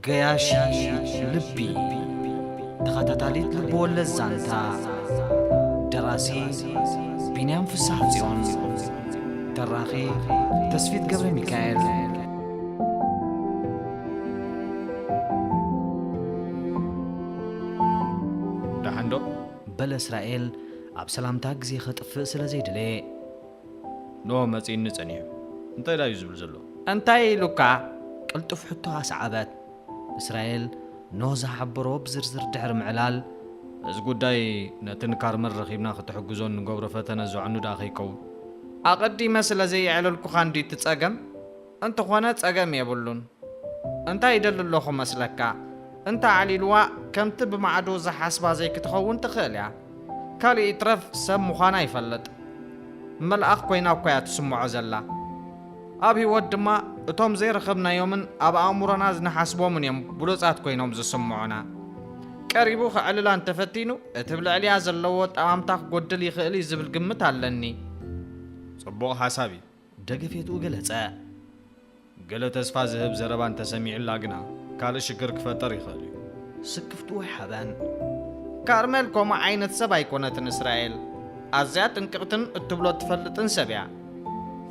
ገያሺ ልቢ ተኸታታሊት ልብወለድ ዛንታ ደራሲ ቢንያም ፍሳሕ ጽዮን ተራኺ ተስፊት ገብረ ሚካኤል ደሓንዶ በለ እስራኤል ኣብ ሰላምታ ግዜ ከጥፍእ ስለ ዘይደለየ። ን መጺኡኒ ጸኒሑ እንታይ ደኣዩ ዝብል ዘሎ? እንታይ ኢሉካ? ቅልጡፍ ሕቶ ኣስዓበት። እስራኤል ኖህ ዝሓበሮ ብዝርዝር ድሕሪ ምዕላል። እዚ ጉዳይ ነቲ ን ካርመን ረኺብና ክትሕግዞ እንገብሮ ፈተነ ዘዕኑ ደኣ ከይከውን? ኣቐዲመ ስለ ዘየዕለልኩኻ እንድዩ እቲ ጸገም። እንተኾነ ጸገም የብሉን እንታይ ይደሊ ኣለኹ መስለካ እንተ ኣዕሊልዋ ከምቲ ብማዕዶ ዝሓስባ ዘይክትኸውን ትኽእል እያ ካልእ ይትረፍ ሰብ ምዃና ይፈልጥ መልኣኽ ኮይና እኳ እያ ትስምዖ ዘላ ኣብ ህይወት ድማ እቶም ዘይረኸብናዮምን ኣብ ኣእምሮና ዝንሓስቦምን እዮም ብሉጻት ኮይኖም ዝስምዑና ቀሪቡ ክዕልላ እንተፈቲኑ እቲ ብልዕሊያ ዘለዎ ጠማምታ ክጎድል ይኽእል እዩ ዝብል ግምት ኣለኒ ጽቡቕ ሓሳብ እዩ ደገፌትኡ ገለጸ። ገለ ተስፋ ዝህብ ዘረባ እንተ ሰሚዑላ ግና ካልእ ሽግር ክፈጠር ይኽእል'ዩ። ስክፍትኡ ኣይሓበን። ካርሜል ከምኡ ዓይነት ሰብ ኣይኮነትን እስራኤል። ኣዝያ ጥንቅቕትን እትብሎ እትፈልጥን ሰብ'ያ።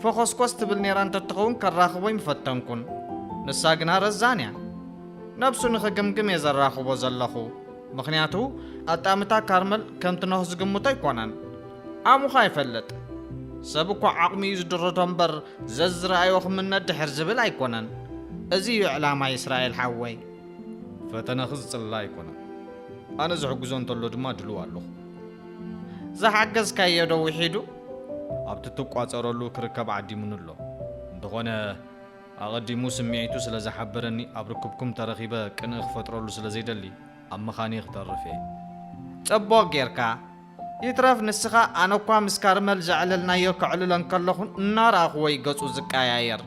ፈኾስኮስ ትብል ኔራ እንተትኸውን ከራኽቦይ ምፈተንኩን። ንሳ ግና ረዛን'ያ። ነብሱ ንኽግምግም'የ ዘራኽቦ ዘለኹ። ምኽንያቱ ኣጣምታ ካርመል ከምቲ ኖህ ዝግምቶ ኣይኮነን። ዓቕምኻ ይፈልጥ ሰብ እኳ ዓቕሙ እዩ ዝድርቶ እምበር ዘዝረኣዮ ክምነ ድሕር ዝብል ኣይኮነን እዚ እዩ ዕላማ ይስራኤል ሓወይ። ፈተነኺ ዝጽላእ ኣይኮነን ኣነ ዝሕግዞ እንተሎ ድማ ድሉው ኣለኹ። ዝሓገዝካዮ ዶ ዊሒዱ? ኣብቲ ትቋጸረሉ ክርከብ ዓዲሙኒ ኣሎ እንተኾነ ኣቐዲሙ ስምዒቱ ስለ ዝሓበረኒ ኣብ ርክብኩም ተረኺበ ቅንኢ ክፈጥረሉ ስለ ዘይደሊ ኣብ ምኻንይ ክተርፍ እየ። ጸቡቕ ጌርካ። ይትረፍ ንስኻ ኣነኳ ምስ ካርመል ዘዕለልናዮ ከዕልሎ እንከለኹ እናረኣኹዎ እዩ ገጹ ዝቀያየር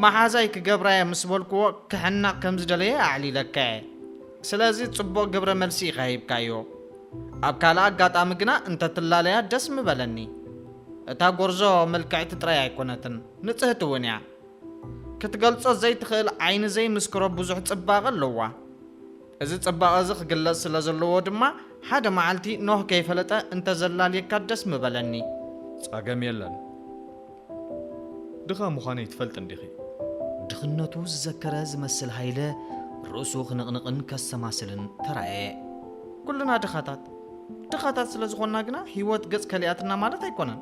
መሓዛይ ክገብራየ ምስ በልኩዎ ክሕነቕ ከም ዝደለየ ኣዕሊለካየ ስለዚ ጽቡቕ ግብረ መልሲ ኢኻ ሂብካዮ ኣብ ካልእ ኣጋጣሚ ግና እንተ ትላለያ ደስ ምበለኒ እታ ጎርዞ ምልክዕቲ ጥራይ ኣይኮነትን ንጽህቲ እውን እያ ክትገልጾ ዘይትኽእል ዓይኒ ዘይምስክሮ ብዙሕ ጽባቐ ኣለዋ እዚ ጽባቐ እዚ ክግለጽ ስለ ዘለዎ ድማ ሓደ መዓልቲ ኖህ ከይፈለጠ እንተ ዘላልየካ ደስ ምበለኒ። ጸገም የለን ድኻ ምዃነይ ትፈልጢ እንዲኺ። ድኽነቱ ዝዘከረ ዝመስል ሃይለ ርእሱ ክንቕንቕን ከሰማስልን ተራእየ። ኩልና ድኻታት። ድኻታት ስለ ዝኾንና ግና ህይወት ገጽ ከሊኣትና ማለት ኣይኮነን።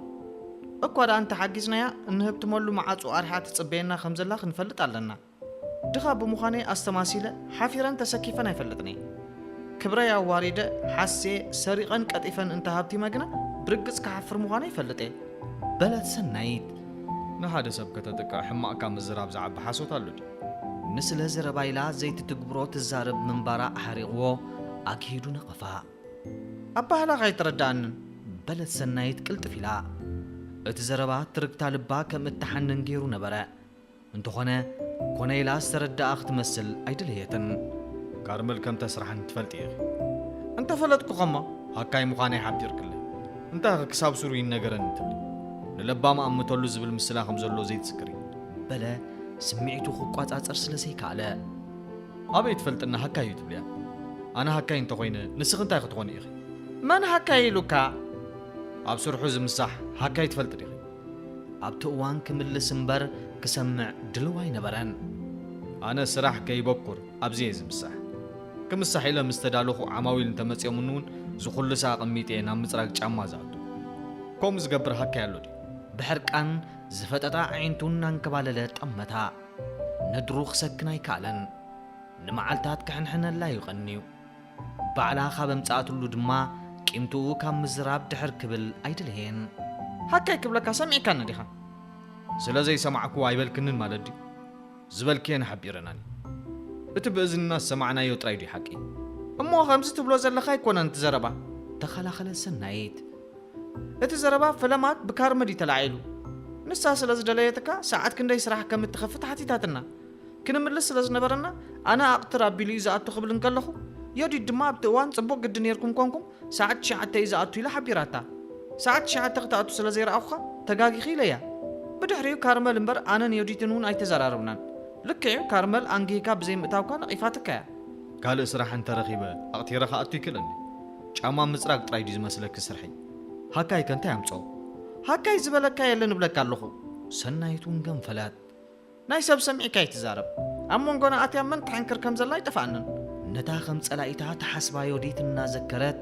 እኳ ደኣ እንተ ሓጊዝናያ እንህብትመሉ መዓጹ ኣርሒቓ ትጽበየና ከም ዘላ ክንፈልጥ ኣለና። ድኻ ብምዃነይ ኣስተማሲለ ሓፊረን ተሰኪፈን ኣይፈልጥን'የ። ክብረይ ኣዋሪደ፣ ሓስየ፣ ሰሪቐን ቀጢፈን እንተ ሃብቲመ ግና ብርግጽ ክሓፍር ምዃነይ እፈልጥ'የ። በለት ሰናይት። ንሓደ ሰብ ከተጥቅዕ ሕማቕ ካብ ምዝራብ ዝዓቢ ሓሶት ኣሎ ድዩ? ንስለ ዘረባ ኢላ ዘይትትግብሮ ትዛረብ ምንባራ ኣሕሪቕዎ ኣግሂዱ ነቐፋ። ኣባህላኺ ኣይተረድኣንን። በለት ሰናይት ቅልጥፍ ኢላ። እቲ ዘረባ ትርግታ ልባ ከም እትሓንን ገይሩ ነበረ። እንተኾነ ኮነ ኢላ ዝተረደኣ ክትመስል ኣይደለየትን። ካርመል ከም ተስራሕኒ ትፈልጢ ኢኺ። እንተፈለጥኩ ከሞ ሃካይ ምዃነይ ሓቢርክለይ። እንታይኸ ክሳብ ሱሩ ይነገረኒ ትብሊ? ንለባም ኣእምተሉ ዝብል ምስላ ከም ዘሎ ዘይትዝክሪ? በለ ስምዒቱ ክቋጻጸር ስለ ዘይከኣለ። ኣበይ ትፈልጥኒ ሃካይ እዩ ትብልያ? ኣነ ሃካይ እንተኾይነ ንስኺ እንታይ ክትኾኒ ኢኺ? መን ሃካይ ኢሉካ? ኣብ ስርሑ ዝምሳሕ ሃካይ ትፈልጢ ዲኺ? ኣብቲ እዋን ክምልስ እምበር ክሰምዕ ድልው ኣይነበረን። ኣነ ስራሕ ከይበኩር ኣብዚ'የ ዝምሳሕ። ክምሳሕ ኢለ ምስ ተዳለኹ ዓማዊል እንተመጺኦምኒ'ውን ዝኹልሰ ኣቐሚጠ'የ ናብ ምጽራግ ጫማ ዝኣቱ። ከምኡ ዝገብር ሃካይ ኣሎ ድዩ? ብሕርቃን ዝፈጠጣ ኣዒንቱ እናንከባለለ ጠመታ። ነድሩ ክሰክን ኣይከኣለን። ንመዓልታት ክሕንሕነላ'ዩ ቀንዩ። ባዕላ ካብ ኣምጽኣትሉ ድማ ቂምትኡ ካብ ምዝራብ ድሕር ክብል ኣይደለየን። ሃከይ ክብለካ ሰሚዕካኒ ዲኻ? ስለ ዘይሰማዕክዎ ኣይበልክንን ማለት ድዩ? ዝበልክየን ሓቢረናኒ። እቲ ብእዝንና ዝሰማዕናዮ ጥራይ ድዩ ሓቂ? እሞ ከምዚ ትብሎ ዘለኻ ኣይኮነን እቲ ዘረባ። ተኸላኸለ ሰናይት። እቲ ዘረባ ፈለማት ብካርመ ድዩ ተላዒሉ? ንሳ ስለ ዝደለየትካ ሰዓት ክንደይ ስራሕ ከም እትኸፍት ሓቲታትና። ክንምልስ ስለ ዝነበረና፣ ኣነ ኣቕትር ኣቢሉ እዩ ዝኣቱ ክብል እንከለኹ፣ ዮዲት ድማ ኣብቲ እዋን ጽቡቕ ግዲ ኔርኩም ኰንኩም ሰዓት ትሽዓተ እዩ ዝኣቱ ኢላ ሓቢራታ። ሰዓት ትሽዓተ ክትኣቱ ስለ ዘይረኣኹኻ ተጋጊኺ ኢለያ። ብድሕሪኡ ካርመል እምበር ኣነን ዮዲትን እውን ኣይተዘራረብናን። ልክዕ እዩ ካርመል ኣንጊህካ ብዘይ ምእታውካ ነቒፋትካ እያ። ካልእ ስራሕ እንተ ረኺበ ኣቕቲረ ክኣቱ ይክእለኒ። ጫማ ምጽራግ ጥራይ ድዩ ዝመስለኪ ስርሐይ? ሃካይከ እንታይ ኣምጽኦ? ሃካይ ዝበለካ የለን እብለካ ኣለኹ። ሰናይት እውን ገንፈለት። ናይ ሰብ ሰሚዕካ ኣይትዛረብ ኣብ መንጎና ኣትያ መን ትሕንክር ከም ዘላ ኣይጠፍኣንን። ነታ ከም ጸላኢታ ትሓስባ ዮዲት እናዘከረት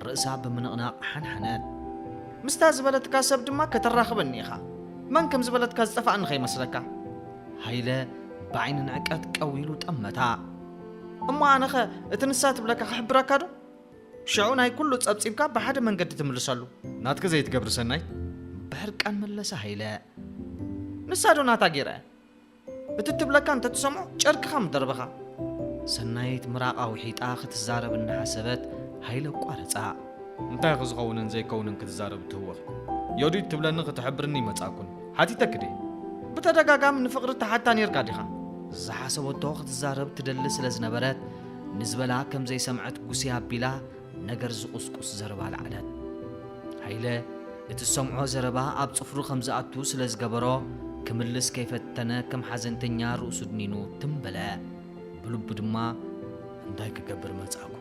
ርእሳ ብምንቕናቕ ሓንሓነት። ምስታ ዝበለትካ ሰብ ድማ ከተራኽበኒ ኢኻ። መን ከም ዝበለትካ ዝጠፍኣኒ ከይመስለካ። ሃይለ ብዓይኒ ንዕቀት ቀው ኢሉ ጠመታ። እሞ ኣነኸ እቲ ንሳ ትብለካ ክሕብረካዶ? ሽዑ ናይ ኩሉ ጸብጺብካ ብሓደ መንገዲ ትምልሰሉ። ናትኪ ዘይትገብሪ ሰናይት? ብሕርቃን መለሰ ሃይለ። ንሳ ዶ ናታ ገይራ እያ? እቲ እትብለካ እንተ ትሰምዖ ጨርቅኻ ምደርበኻ። ሰናይት ምራቓ ውሒጣ ክትዛረብ እናሓሰበት ሃይለ ኣቋረጻ። እንታይ ኢኺ ዝኸውንን ዘይከውንን ክትዛረቢ እትህወኺ? ዮዲት ትብለኒ ክትሕብርኒ ይመጻእኩኒ። ሓቲተኪ ድየ? ብተደጋጋሚ ንፍቕሪ ትሓታ ኔርካ ዲኻ? ዝሓሰበቶ ክትዛረብ ትደሊ ስለ ዝነበረት፣ ንዝበላ ከም ዘይሰምዐት ጉስይ ኣቢላ ነገር ዝቑስቁስ ዘረባ ኣልዓለት። ሃይለ እቲ ዝሰምዖ ዘረባ ኣብ ጽፍሩ ከም ዝኣቱ ስለ ዝገበሮ ክምልስ ከይፈተነ ከም ሓዘንተኛ ርእሱ ድኒኑ ትም በለ። ብልቡ ድማ እንታይ ክገብር መጻእኩ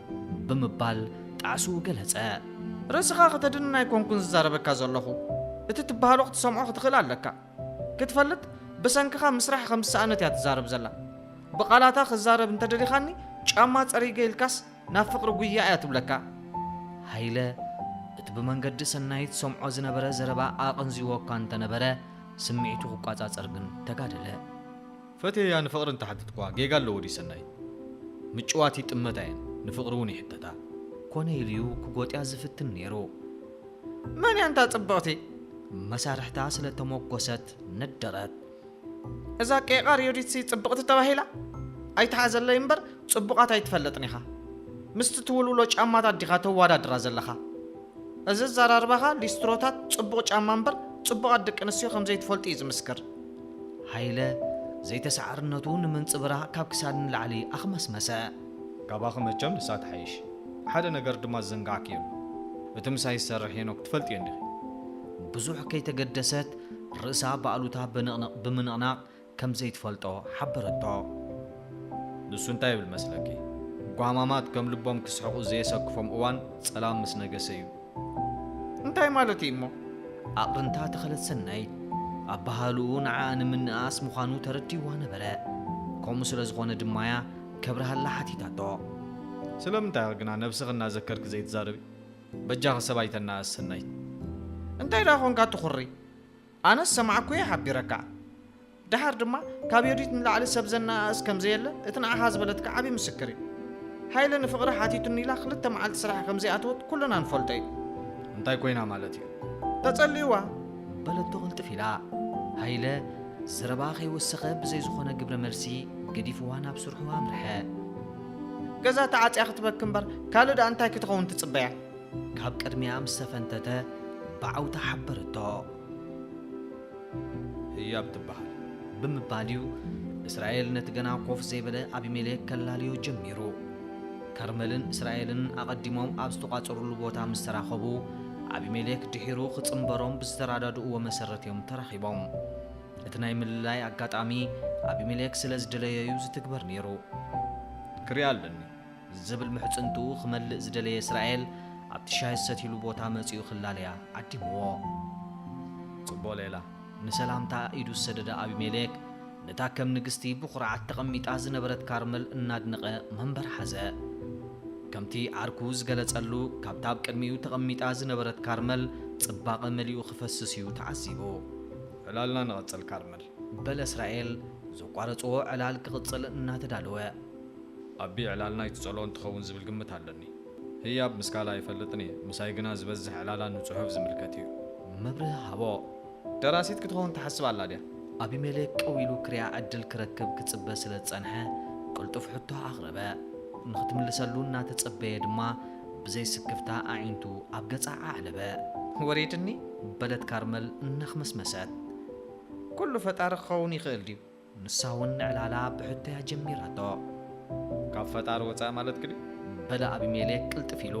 ብምባል ጣዕስኡ ገለጸ። ርእስኻ ከተድንን ኣይኮንኩን ዝዛረበካ ዘለኹ። እቲ ትበሃሎ ክትሰምዖ ክትኽእል ኣለካ። ክትፈልጥ ብሰንክኻ ምስራሕ ከም ዝሰኣነት እያ ትዛረብ ዘላ ብቃላታ ክዛረብ እንተደሊኻኒ ጫማ ጸሪገ ኢልካስ ናብ ፍቅሪ ጉያ እያ ትብለካ። ሃይለ እቲ ብመንገዲ ሰናይት ዝሰምዖ ዝነበረ ዘረባ ኣቐንዚዎ እኳ እንተነበረ ስምዒቱ ክቋጻጸር ግን ተጋደለ። ፈትየያ ንፍቅሪ እንተሓተትክዋ ጌጋ ኣለዎ ድዩ ሰናይ ምጭዋት ይጥመታ እየን ንፍቅሪ እውን ይሕተታ። ኮነ ኢሉዩ ክጎጥያ ዝፍትን ነይሩ። መን እያ እንታ ጽብቕቲ? መሳርሕታ ስለ ተሞጎሰት ነደረት። እዛ ቄቓር ዮዲትሲ ጽብቕቲ ተባሂላ? ኣይትሓዘለይ እምበር ጽቡቓት ኣይትፈልጥን ኢኻ። ምስቲ ትውልውሎ ጫማታት ዲኻ ተዋዳድራ ዘለኻ? እዚ ኣዘራርባኻ ሊስትሮታት ጽቡቕ ጫማ እምበር ጽቡቓት ደቂ ኣንስትዮ ከም ዘይትፈልጡ እዩ ዝምስክር። ሃይለ ዘይተሳዓርነቱ ንምንጽብራቕ ካብ ክሳድ ንላዕሊ ኣኽመስመሰ። ካባኺ መቸም ንሳ ትሓይሽ። ሓደ ነገር ድማ ዝዘንጋዕክዮ ኣሎ። እቲ ምሳይ ዝሰርሕ ሄኖክ ትፈልጥዮ እንዲኺ። ብዙሕ ከይተገደሰት ርእሳ ብኣሉታ በንቕንቕ ብምንቕናቕ ከም ዘይትፈልጦ ሓበረቶ። ንሱ እንታይ ይብል መስለኪ፣ ጓማማት ከም ልቦም ክስሕቑ ዘየሰክፎም እዋን ጸላም ምስ ነገሰ እዩ። እንታይ ማለት እዩ እሞ? ኣቕርንታ ተኸለት ሰናይት ኣበሃህልኡ ንዓኣ ንምንእኣስ ምዃኑ ተረዲእዋ ነበረ። ከምኡ ስለ ዝኾነ ድማ እያ ከብርሃላ ሓቲታቶ። ስለምንታይ ኢኺ ግና ነብስኺ እናዘከርኪ ዘይትዛረቢ? በጃኺ ሰብ ኣይተነኣእሲ ሰናይት። እንታይ ደኣ ኰንካ ትዅሪ? ኣነስ ሰማዕኩ እየ ሓቢረካ። ደሓር ድማ ካብ ዮዲት ንላዕሊ ሰብ ዘነኣእስ ከም ዘየለ እቲ ንዓኻ ዝበለትካ ዓቢ ምስክር እዩ። ሃይለ ንፍቕሪ ሓቲቱኒ ኢላ ክልተ መዓልቲ ስራሕ ከም ዘይኣተወት ኩልና ንፈልጦ እዩ። እንታይ ኮይና ማለት እዩ? ተጸልዩዋ! በለቶ ቅልጥፍ ኢላ። ሃይለ ዘረባኣ ከይወሰኸ ብዘይ ዝኾነ ግብረ መልሲ ገዲፉዋ ናብ ስርሑ ኣምርሐ። ገዛ ተዓጽያ ክትበኪ እምበር ካልእ ደኣ እንታይ ክትኸውን ትጽበያ? ካብ ቅድሚኣ ምስ ተፈንተተ ብዓውታ ሓበረቶ። ህያብ ትበሃል። ብምባል እዩ እስራኤል ነቲ ገና ኮፍ ዘይበለ ኣቢሜሌክ ከላልዮ ጀሚሩ። ከርመልን እስራኤልን ኣቐዲሞም ኣብ ዝተቋጸሩሉ ቦታ ምስ ተራኸቡ፣ ኣቢሜሌክ ድሒሩ ክጽንበሮም ብዝተራዳድእዎ መሰረት እዮም ተራኺቦም። እቲ ናይ ምልላይ ኣጋጣሚ ኣቢሜሌክ ስለ ዝደለዮ'ዩ ዝትግበር ነይሩ። ክሪኣ ኣለኒ። ዝብል ምሕጽንትኡ ክመልእ ዝደለየ እስራኤል ኣብቲ ሻሂ ዝሰትይሉ ቦታ መጺኡ ክላለያ ዓዲምዎ። ጽቡቕ ሌላ። ንሰላምታ ኢዱ ዝሰደደ ኣቢሜሌክ ነታ ከም ንግስቲ ብኹርዓት ተቐሚጣ ዝነበረት ካርመል እናድነቐ መንበር ሓዘ። ከምቲ ዓርኩ ዝገለጸሉ ካብታ ኣብ ቅድሚኡ ተቐሚጣ ዝነበረት ካርመል ጽባቐ መሊኡ ክፈስስ እዩ ተዓዚቡ። ዕላልና ንቐጽል ካርመል። በለ እስራኤል ዘቋረጽዎ ዕላል ክቕጽል እናተዳለወ። ኣቢ ዕላል ናይቲ ጸልኦን ትኸውን ዝብል ግምት ኣለኒ። ህያብ ምስ ካልእ ኣይፈልጥን እየ፣ ምሳይ ግና ዝበዝሕ ዕላላ ንጽሑፍ ዝምልከት እዩ። መብርሂ ሃቦ። ደራሲት ክትኸውን ትሓስብ ኣላ ድያ? ኣቢሜሌክ ቀው ኢሉ ክሪኣ ዕድል ክረክብ ክጽበ ስለ ዝጸንሐ፣ ቅልጡፍ ሕቶ ኣቕረበ። ንኽትምልሰሉ እናተጸበየ ድማ ብዘይ ስክፍታ ኣዒንቱ ኣብ ገጻ ኣዕለበ። ወሪድኒ? በለት ካርመል እናኽመስመሰት። ኩሉ ፈጣሪ ክኸውን ይኽእል ድዩ? ንሳ ውን ንዕላላ ብሕቶ'ያ ጀሚራቶ። ካብ ፈጣሪ ወጻኢ ማለትኪ ድዩ? በለ ኣቢሜሌክ ቅልጥፍ ኢሉ።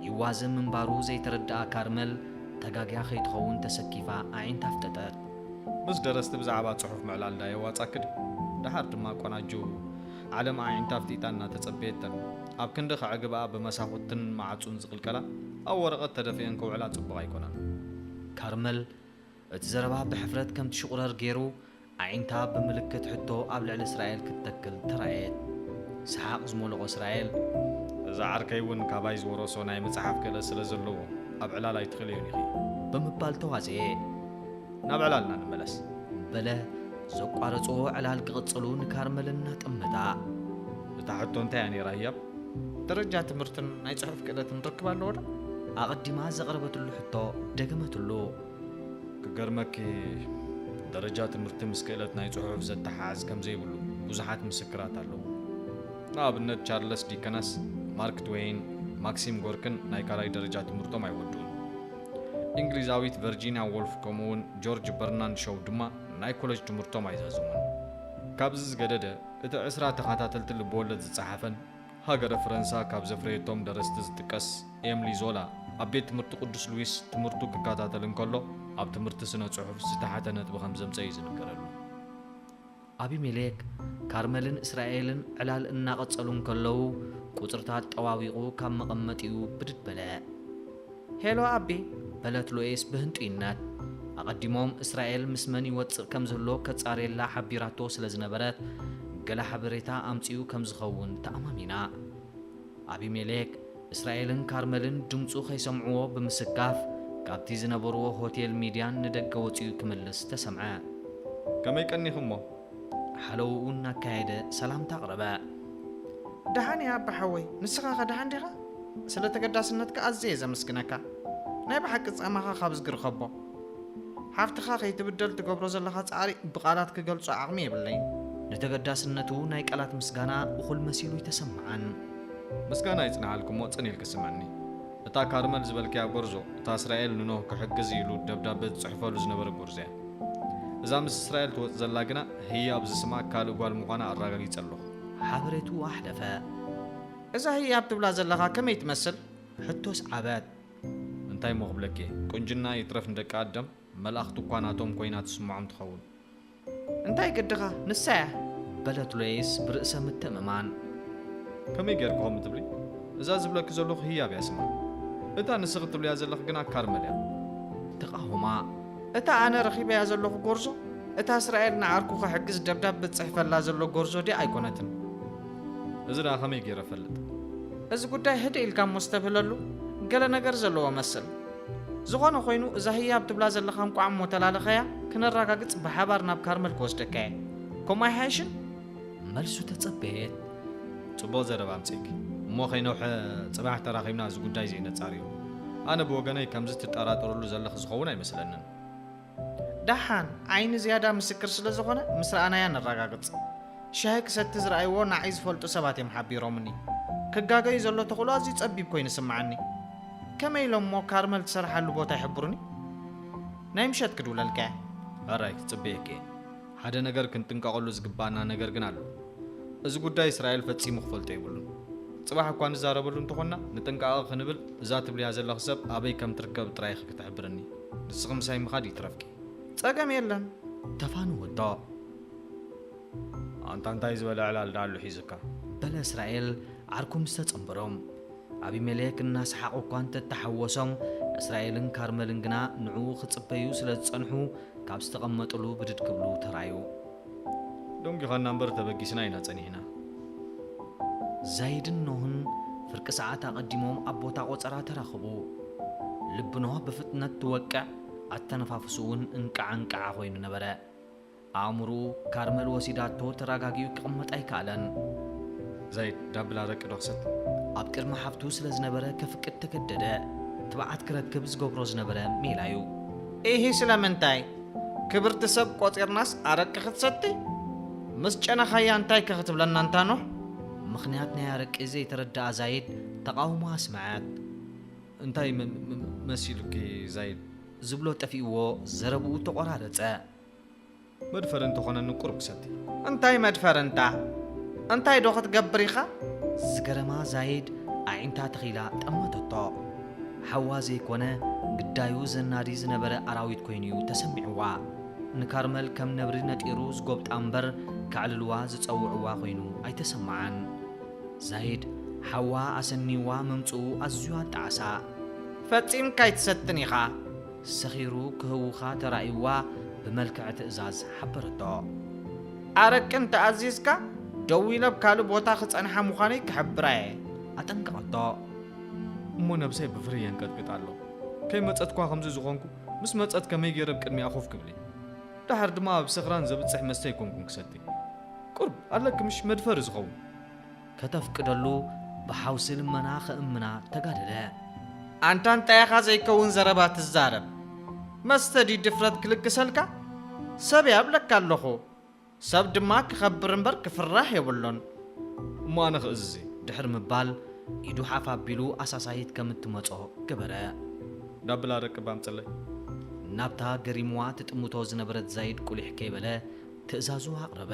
ይዋዘ ምንባሩ ዘይተረድኣ ካርመል፣ ተጋግያ ከይትኸውን ተሰኪፋ ኣዒንታ ኣፍጠጠት። ምስ ደረስቲ ብዛዕባ ጽሑፍ ምዕላል ድኣ የዋጻኪ ድዩ? ድሓር ድማ ቆናጁ ዓለም ኣዒንታ ኣፍጢጣ እናተጸበየተን፣ ኣብ ክንዲ ከዕግብኣ ብመሳኹትን መዓጹን ዝቅልቀላ፣ ኣብ ወረቐት ተደፊኤን ክውዕላ ጽቡቕ ኣይኮነን። ካርመል እቲ ዘረባ ብሕፍረት ከም ትሽቑረር ገይሩ፣ ኣዒንታ ብምልክት ሕቶ ኣብ ልዕሊ እስራኤል ክትተክል ተራእየት። ሰሓቕ ዝመልኦ እስራኤል። እዚ ዓርከይ እውን ካባይ ዝወረሶ ናይ ምጽሓፍ ክእለት ስለ ዘለዎ፣ ኣብ ዕላል ኣይትኽእልዮን ኢኺ። ብምባል ተዋጽኤ። ናብ ዕላልና ንመለስ። በለ ዘቋረጽዎ ዕላል ክቕጽሉ ንካርመል እናጠመታ። እታ ሕቶ እንታይ እያ ነይራ ህያብ? ደረጃ ትምህርትን ናይ ጽሑፍ ክእለትን ርክብ ኣለዎ ዶ? ኣቐዲማ ዘቕረበትሉ ሕቶ ደገመትሉ። ክገርመኪ ደረጃ ትምህርቲ ምስ ክእለት ናይ ጽሑፍ ዘተሓዕዝ ከም ዘይብሉ ብዙሓት ምስክራት ኣለዉ። ንኣብነት ቻርለስ ዲከነስ፣ ማርክ ትዌይን፣ ማክሲም ጎርክን ናይ ካልኣይ ደረጃ ትምህርቶም ኣይወድኡን። እንግሊዛዊት ቨርጂንያ ዎልፍ ከምኡውን ጆርጅ በርናንድ ሾው ድማ ናይ ኮለጅ ትምህርቶም ኣይዛዘሙን። ካብዚ ዝገደደ እቲ ዕስራ ተኸታተልቲ ልብወለድ ዝጸሓፈን ሃገረ ፈረንሳ ካብ ዘፍረየቶም ደረስቲ ዝጥቀስ ኤምሊ ዞላ፣ ኣብ ቤት ትምህርቲ ቅዱስ ሉዊስ ትምህርቱ ክከታተል እንከሎ ኣብ ትምህርቲ ስነ ጽሑፍ ዝተሓተ ነጥቢ ከም ዘምጸ እዩ ዝንገረሉ። ኣቢሜሌክ፣ ካርመልን እስራኤልን ዕላል እናቐጸሉ እንከለዉ፣ ቁጽርታት ጠዋዊቑ ካብ መቐመጢኡ ብድድ በለ። ሄሎ ኣቢ! በለት ሎይስ ብህንጡይነት። ኣቐዲሞም እስራኤል ምስ መን ይወጽእ ከም ዝህሎ ከጻርየላ ሓቢራቶ ስለ ዝነበረት፣ ገለ ሓበሬታ ኣምጺኡ ከም ዝኸውን ተኣማሚና። ኣቢሜሌክ፣ እስራኤልን ካርመልን ድምጹ ከይሰምዕዎ ብምስካፍ፣ ካብቲ ዝነበርዎ ሆቴል ሚድያን ንደገ ወጺኡ ክምልስ ተሰምዐ። ከመይ ቀኒኹምሞ? ሓለውኡ እናካየደ ሰላምታ ኣቕረበ። ደሓን እየ ኣባ ሓወይ፣ ንስኻኸ ደሓን ዲኻ? ስለ ተገዳስነትካ ኣዝየ እየ ዘመስግነካ። ናይ ብሓቂ ጻማኻ ካብ እዝጊ ርኸቦ። ሓፍትኻ ከይትብደል ትገብሮ ዘለኻ ጻዕሪ ብቓላት ክገልጾ ዓቕሚ የብለይን። ንተገዳስነቱ ናይ ቃላት ምስጋና እኹል መሲሉ ኣይተሰምዓን። ምስጋና ይጽንሓልኪ'ሞ ጽን ኢልኪ ስምዕኒ። እታ ካርመል ዝበልክያ ጎርዞ፣ እታ እስራኤል ንኖህ ክሕግዝ ኢሉ ደብዳበ ዝጽሕፈሉ ዝነበረ ጎርዞ'ያ። እዛ ምስ እስራኤል ትወጽእ ዘላ ግና ህያብ ዝስማ ካልእ ጓል ምዃና ኣራጋጊጸ ኣለኹ። ሓበሬትኡ ኣሕለፈ። እዛ ህያብ ትብላ ዘለኻ ከመይ ትመስል? ሕቶ ስዓበት። እንታይ እሞ ክብለኪ፣ ቁንጅና ይትረፍ ንደቂ ኣደም መልኣኽቲ እኳ ናቶም ኮይና ትስምዖም ትኸውን። እንታይ ግድኻ፣ ንሳ እያ። በለት ሎይስ ብርእሰ ምትእምማን። ከመይ ጌርኪ ከምኡ ትብሊ? እዛ ዝብለኪ ዘለኹ ህያብ እያ ስማ። እታ ንስኺ ትብልያ ዘለኺ ግና ካርመል እያ። ተቓወማ። እታ ኣነ ረኺበያ ዘለኹ ጎርዞ እታ እስራኤል ንዓርኩ ክሕግዝ ደብዳበ ዝጽሕፈላ ዘሎ ጎርዞ ድያ ኣይኮነትን? እዚ ደኣ ከመይ ገይረ እፈልጥ? እዚ ጉዳይ ህድእ ኢልካ እሞ እስተብህለሉ ገለ ነገር ዘለዎ እመስል። ዝኾነ ኮይኑ እዛ ህያብ ትብላ ዘለኻ እንቋዕ እሞ ተላለኸያ ክነራጋግጽ ብሓባር ናብ ካርመል ክወስደካ'የ። ከምኡ ኣይሓይሽን? መልሱ ተጸበየት። ጽቡቕ ዘረባ ኣምጺእኪ። እሞ ከይነውሐ ጽባሕ ተራኺብና እዚ ጉዳይ እዚ ነጻርዮ። ኣነ ብወገነይ ከምዚ ትጠራጠርሉ ዘለኺ ዝኸውን ኣይመስለንን። ደሓን፣ ዓይኒ ዝያዳ ምስክር ስለ ዝኾነ ምስ ረኣናያ ነረጋግጽ። ሻሂ ክሰቲ ዝረኣይዎ ናዕይ ዝፈልጡ ሰባት እዮም ሓቢሮምኒ። ክጋገዩ ዘሎ ተኽእሎ ኣዝዩ ጸቢብ ኮይኑ ይስምዓኒ። ከመይ ኢሎም እሞ ካርመል ትሰርሓሉ ቦታ ይሕብሩኒ? ናይ ምሸት ክድውለልካ እየ። ሕራይ፣ ክጽበየኪ እየ። ሓደ ነገር ክንጥንቀቐሉ ዝግብኣና ነገር ግን ኣሎ። እዚ ጉዳይ እስራኤል ፈጺሙ ክፈልጦ የብሉን። ጽባሕ እኳ ንዛረበሉ እንተኾንና ንጥንቃቐ ክንብል እዛ ትብልያ ዘለኺ ሰብ ኣበይ ከም ትርከብ ጥራይ ኢኺ ክትሕብርኒ። ንስኺ ምሳይ ምኻድ ይትረፍኪ። ጸገም የለን። ተፋነወቶ። ኣንታ እንታይ ዝበለ ዕላል ደኣሉ ሒዙካ? በለ እስራኤል ዓርኩ ምስ ተጸንበሮም። ኣቢሜሌክ እናሰሓቑ እኳ እንተ ተሓወሶም፣ እስራኤልን ካርመልን ግና ንዕኡ ኺጽበዩ ስለ ዝጸንሑ፣ ካብ ዝተቐመጡሉ ብድድ ክብሉ ተራእዩ። ደንጒኻና እምበር፣ ተበጊስና ኢና ጸኒሕና። ዛይድን ኖህን ፍርቂ ሰዓት ኣቐዲሞም ኣብ ቦታ ቈጸራ ተራኽቡ። ልቢ ኖህ ብፍጥነት ትወቅዕ፣ ኣተነፋፍስኡውን እንቃዕ-እንቃዕ ዀይኑ ነበረ። ኣእምሩኡ ካርመል ወሲዳቶ ተራጋጊኡ ክቅመጥ ኣይካኣለን። ዘይድ ዳብል ኣረቂ ዶ ክሰቲ ኣብ ቅድሚ ሓፍቱ ስለ ዝነበረ ከፍቅድ ተገደደ። ትብዓት ክረክብ ዝገብሮ ዝነበረ ሜላ እዩ። ኢሂ ስለምንታይ ክብርቲ ሰብ ቆጺርናስ ኣረቂ ክትሰቲ? ምስ ጨነኻያ እንታይ ከ ክትብለና ኣንታ ኖህ? ምኽንያት ናይ ኣረቂ ዘይተረደኣ ዛይድ ተቃውሞ ኣስመዐት። እንታይ መሲሉኪ ዛይድ? ዝብሎ ጠፊእዎ ዘረብኡ ተቆራረጸ። መድፈሪ እንተኾነኒ ቁሩብ ሰቲ። እንታይ መድፈሪ እንታ? እንታይ ዶ ክትገብር ኢኻ? ዝገረማ ዛይድ ኣዒንታ ተኺላ ጠመተቶ። ሓዋ ዘይኮነ ግዳዩ ዘናዲ ዝነበረ ኣራዊት ኮይኑ'ዩ ተሰሚዕዋ። ንካርመል ከም ነብሪ ነጢሩ ዝጎብጣ እምበር ከዕልልዋ ዝጸውዕዋ ኮይኑ ኣይተሰመዓን። ዛይድ ሓዋ ኣሰንይዋ ምምጽኡ ኣዝዩ ኣጣዓሳ። ፈጺምካ ኣይትሰትን ኢኻ። ሰኺሩ ክህውኻ ተራእዩዋ ብመልክዕ ትእዛዝ ሓበረቶ። ኣረቂ እንተ ኣዚዝካ፣ ደው ኢለ ኣብ ካልእ ቦታ ክጸንሓ ምዃነይ ክሕብራ'የ። ኣጠንቀቐቶ። እሞ ነብሰይ ብፍርሂ የንቀጥቅጥ ኣሎ። ከይመጸት'ኳ ከምዚ ዝኾንኩ፣ ምስ መጸት ከመይ ገይረ ኣብ ቅድሚኣ ኮፍ ክብል'የ? ደሓር ድማ ኣብ ሰኽራን ዘብጽሕ መስተ ኣይኮንኩን ክሰቲ። ቁሩብ ኣለኪ ምሽ መድፈሪ ዝኸውን። ከተፍቅደሉ ብሓውሲ ልመና ክእምና ተጋደደ። ኣንታ እንታይ ኢኻ ዘይከውን ዘረባ ትዛረብ? መስተ ድዩ ድፍረት ክልግሰልካ? ሰብ'የ ኣብለካ ኣለኹ። ሰብ ድማ ክኸብር እምበር ክፍራሕ የብሉን። እሞ ኣነ ክእዝዝ እየ። ድሕሪ ምባል ኢዱ ሓፍ ኣቢሉ ኣሳሳሂት ከም እትመጾ ገበረ። ናብ ብላ ደቂ እባ ኣምጽለይ። ናብታ ገሪሙዋ ትጥምቶ ዝነበረት ዛይድ ቁሊሕ ከይበለ ትእዛዙ ኣቕረበ።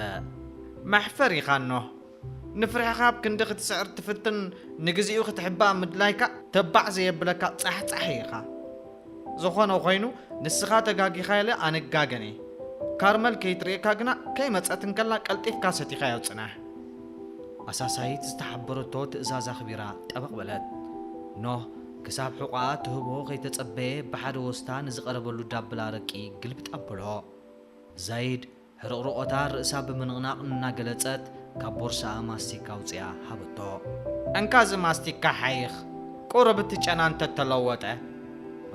መሕፈሪኻ ኖህ ንፍርሕኻ ኣብ ክንዲ ክትስዕር ትፍትን ንግዜኡ ክትሕባእ ምድላይካ ተባዕ ዘየብለካ ጻሕጻሒ ኢኻ። ዝኾነ ኾይኑ ንስኻ ተጋጊኻ ኢለ ኣንጋገን እየ። ካርመል ከይትርእየካ ግና ከይመጸት እንከላ ቀልጢፍካ ሰቲኻዮ ጽናሕ። ኣሳሳይት ዝተሓበረቶ ትእዛዝ ኣኽቢራ ጠበቕ በለት። ኖህ ክሳብ ሕቖኣ ትህቦ ከይተጸበየ ብሓደ ወስታ ንዝቐረበሉ ዳብል ኣረቂ ግልብጥ ኣበሎ። ዛይድ። ሕርቕርቖታ ርእሳ ብምንቕናቕ እናገለጸት ካብ ቦርሳኣ ማስቲካ ኣውጺኣ ሃበቶ። እንካ እዚ ማስቲካ ሓይኽ፣ ቁሩብ እቲ ጨና እንተ ተለወጠ።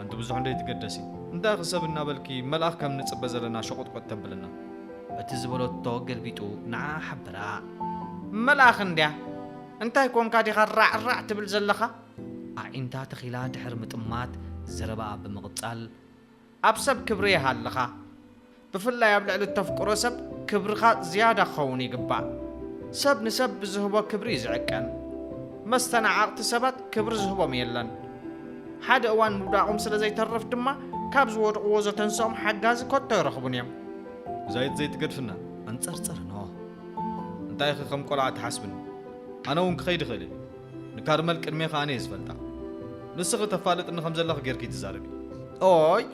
ኣንቲ ብዙሕ እንደይትገደሲ፣ እንታይ ኢኺ ሰብ እናበልኪ መልኣኽ ከም ንጽበ ዘለና ሸቖጥቆጥ ተብልና። እቲ ዝበለቶ ገልቢጡ ንዓኣ ሓበራ። መልኣኽ እንድያ፣ እንታይ ኰንካ ዲኻ ራዕ ራዕ ትብል ዘለኻ? ኣዒንታ ተኺላ ድሕሪ ምጥማት ዘረባኣ ብምቕጻል። ኣብ ሰብ ክብሪ ይሃልኻ። ብፍላይ ኣብ ልዕሊ እተፍቅሮ ሰብ ክብርኻ ዝያዳ ክኸውን ይግባእ። ሰብ ንሰብ ብዝህቦ ክብሪ እዩ ዝዕቀን። መስተናዓቕቲ ሰባት ክብሪ ዝህቦም የለን። ሓደ እዋን ምውዳቖም ስለ ዘይተርፍ ድማ ካብ ዝወድቕዎ ዘተንስኦም ሓጋዚ ከቶ ኣይረኽቡን እዮም። ዛይት ዘይትገድፍና ኣንጸርጽር ኖህ። እንታይኺ ከም ቆልዓ ትሓስብኒ ኣነውን ክኸይድ ይኽእል እየ። ንካርመል ቅድሜኻ ኣነ'የ ዝፈልጣ። ንስኺ ተፋልጥኒ ከም ዘለኺ ጌርኪ ትዛረቢ። ኦይ!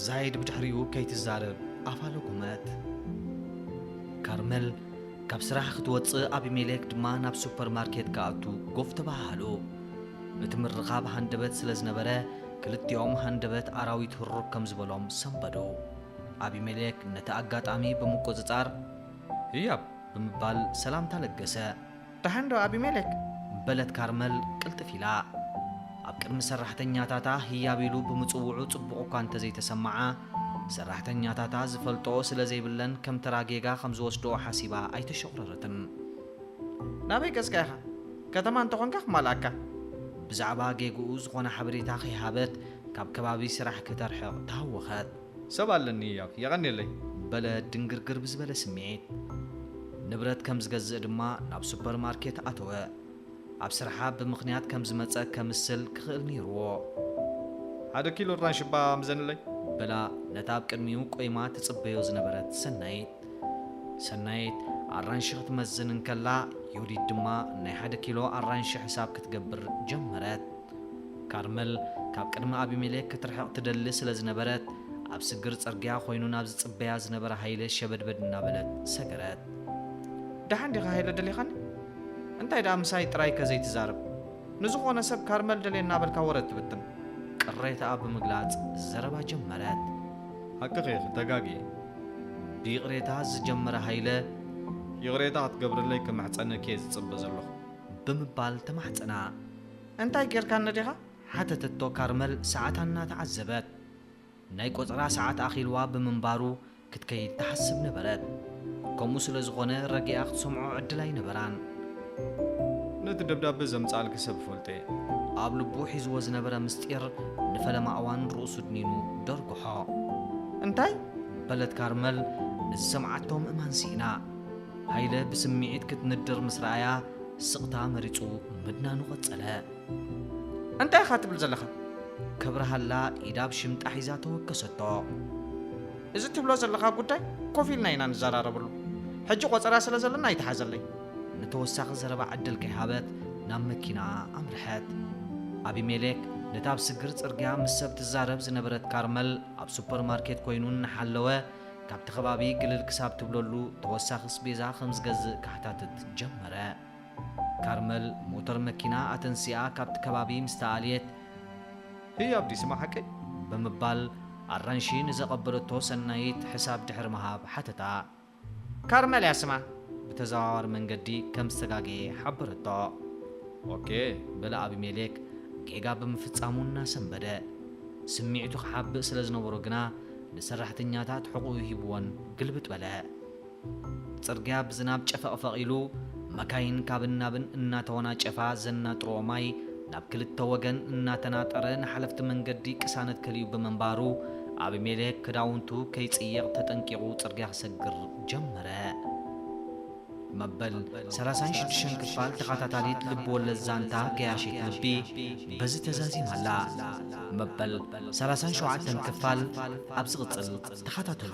ዛይድ ብድሕሪኡ ከይትዛረብ ኣፋ ለጎመት። ካርመል ካብ ስራሕ ክትወጽእ ኣቢሜሌክ ድማ ናብ ሱፐር ማርኬት ክኣቱ ጎፍ ተበሃሃሉ። እቲ ምርኻብ ሃንደበት ስለ ዝነበረ ክልቲኦም ሃንደበት ኣራዊት ህሩግ ከም ዝበሎም ሰንበዱ። ኣቢሜሌክ ነቲ ኣጋጣሚ ብምቁጽጻር ህያብ! ብምባል ሰላምታ ለገሰ። ደሓን ዶ ኣቢሜሌክ? በለት ካርመል ቅልጥፍ ኢላ። ኣብ ቅድሚ ሰራሕተኛታታ ህያብ ኢሉ ብምጽውዑ ጽቡቕ እኳ እንተ ዘይተሰምዓ፣ ሰራሕተኛታታ ዝፈልጥኦ ስለ ዘይብለን ከም ተራ ጌጋ ከም ዝወስድኦ ሓሲባ ኣይተሾኽረረትን። ናበይ ገጽካ ኢኻ? ከተማ እንተ ኾንካ ክማልኣካ። ብዛዕባ ጌግኡ ዝኾነ ሓበሬታ ከይሃበት ካብ ከባቢ ስራሕ ከተርሕቕ ተሃወኸት። ሰብ ኣለኒ ያክ የቐኔለይ። በለ ድንግርግር ብዝበለ ስምዒት። ንብረት ከም ዝገዝእ ድማ ናብ ሱፐር ማርኬት ኣተወ። ኣብ ስራሓ ብምኽንያት ከም ዝመጸ ከምስል ክኽእል ነይሩዎ። ሓደ ኪሎ ኣራንሺ'ባ ምዘንለይ። በላ ነታ ኣብ ቅድሚኡ ቆይማ ትጽበዮ ዝነበረት ሰናይት። ሰናይት ኣራንሺ ክትመዝን እንከላ ዮዲት ድማ ናይ ሓደ ኪሎ ኣራንሺ ሕሳብ ክትገብር ጀመረት። ካርመል ካብ ቅድሚ ኣቢሜሌክ ክትርሕቕ ትደሊ ስለ ዝነበረት፣ ኣብ ስግር ጽርግያ ዀይኑ ናብ ዚጽበያ ዝነበረ ሃይለ ሸበድበድ እናበለት ሰገረት። ደሓን ዲኻ ሃይለ ደሊኻኒ? እንታይ ደኣ ምሳይ ጥራይከ ዘይትዛረብ? ንዝዀነ ሰብ ካርመል ደልየ እናበልካ ወረ እትብትን? ቅሬታኣ ብምግላጽ ዘረባ ጀመረት። ሓቅኺ ኢኺ፣ ተጋግየ። ብይቕሬታ ዝጀመረ ሃይለ። ይቕሬታ ክትገብርለይ ክምሕጸነኪ'የ ዝጽበ ዘለኹ። ብምባል ተማሕጸና። እንታይ ጌርካኒ ዲኻ? ሓተተቶ ካርመል ሰዓታ እናተዓዘበት። ናይ ቆጸራ ሰዓት ኣኺልዋ ብምንባሩ ክትከይድ ትሓስብ ነበረት። ከምኡ ስለ ዝኾነ ረጊኣ ክትሰምዖ ዕድል ኣይነበራን። ነቲ ደብዳበ ዘምጽኣልኪ ሰብ እፈልጦ'የ። ኣብ ልቡ ሒዝዎ ዝነበረ ምስጢር ንፈለማ እዋን ርእሱ ድኒኑ ደርጉሖ። እንታይ? በለት ካርመል ንዝሰምዓቶ ምእማን ስኢና። ሃይለ ብስምዒት ክትንድር ምስ ረኣያ ስቕታ መሪጹ ምድናኑ ቀጸለ። እንታይ ኢኻ ትብል ዘለኻ? ከብርሃላ ኢዳ ኣብ ሽምጣ ሒዛ ተወከሰቶ። እዚ ትብሎ ዘለኻ ጉዳይ ኮፍ ኢልና ኢና ንዘራረበሉ። ሕጂ ቆጸራ ስለ ዘለና ኣይትሓዘለይ። ንተወሳኺ ዘረባ ዕድል ከይሃበት ናብ መኪናኣ ኣምርሐት። ኣቢሜሌክ ነታ ኣብ ስግር ጽርግያ ምስ ሰብ ትዛረብ ዝነበረት ካርመል ኣብ ሱፐርማርኬት ኮይኑ እናሓለወ ካብቲ ከባቢ ግልል ክሳብ ትብለሉ ተወሳኺ ስቤዛ ከም ዝገዝእ ከሕታትት ጀመረ። ካርመል ሞተር መኪና ኣተንሲኣ ካብቲ ከባቢ ምስ ተኣልየት። ህይ ኣብዲ ስማ ሓቀይ? ብምባል ኣራንሺ ንዘቐበለቶ ሰናይት ሕሳብ ድሕሪ ምሃብ ሓተታ። ካርመል እያ ስማ። ብተዘዋዋሪ መንገዲ ከም ዝተጋገየ ሓበረቶ። ኦኬ፣ በለ ኣቢሜሌክ ጌጋ ብምፍጻሙ እናሰንበደ። ስምዒቱ ክሓብእ ስለ ዝነበሮ ግና። ንሰራሕተኛታት ሕቑኡ ሂብወን ግልብጥ በለ። ጽርግያ ብዝናብ ጨፈቕፈቕ ኢሉ፣ መካይን ካብን ናብን እናተወናጨፋ ዘናጥርኦ ማይ ናብ ክልተ ወገን እናተናጠረ ንሓለፍቲ መንገዲ ቅሳነት ከሊኡ ብምንባሩ፣ ኣቢሜሌክ ክዳውንቱ ከይጽይቕ ተጠንቂቑ ጽርግያ ክሰግር ጀመረ። መበል ሰላሳን ሽዱሽተን ክፋል ተኻታታሊት ልብወለድ ዛንታ ገያሺት ልቢ በዚ ተዛዚማ ኣላ። መበል ሰላሳን ሸውዓተን ክፋል ኣብ ዝቕጽል ተኻታተሉ።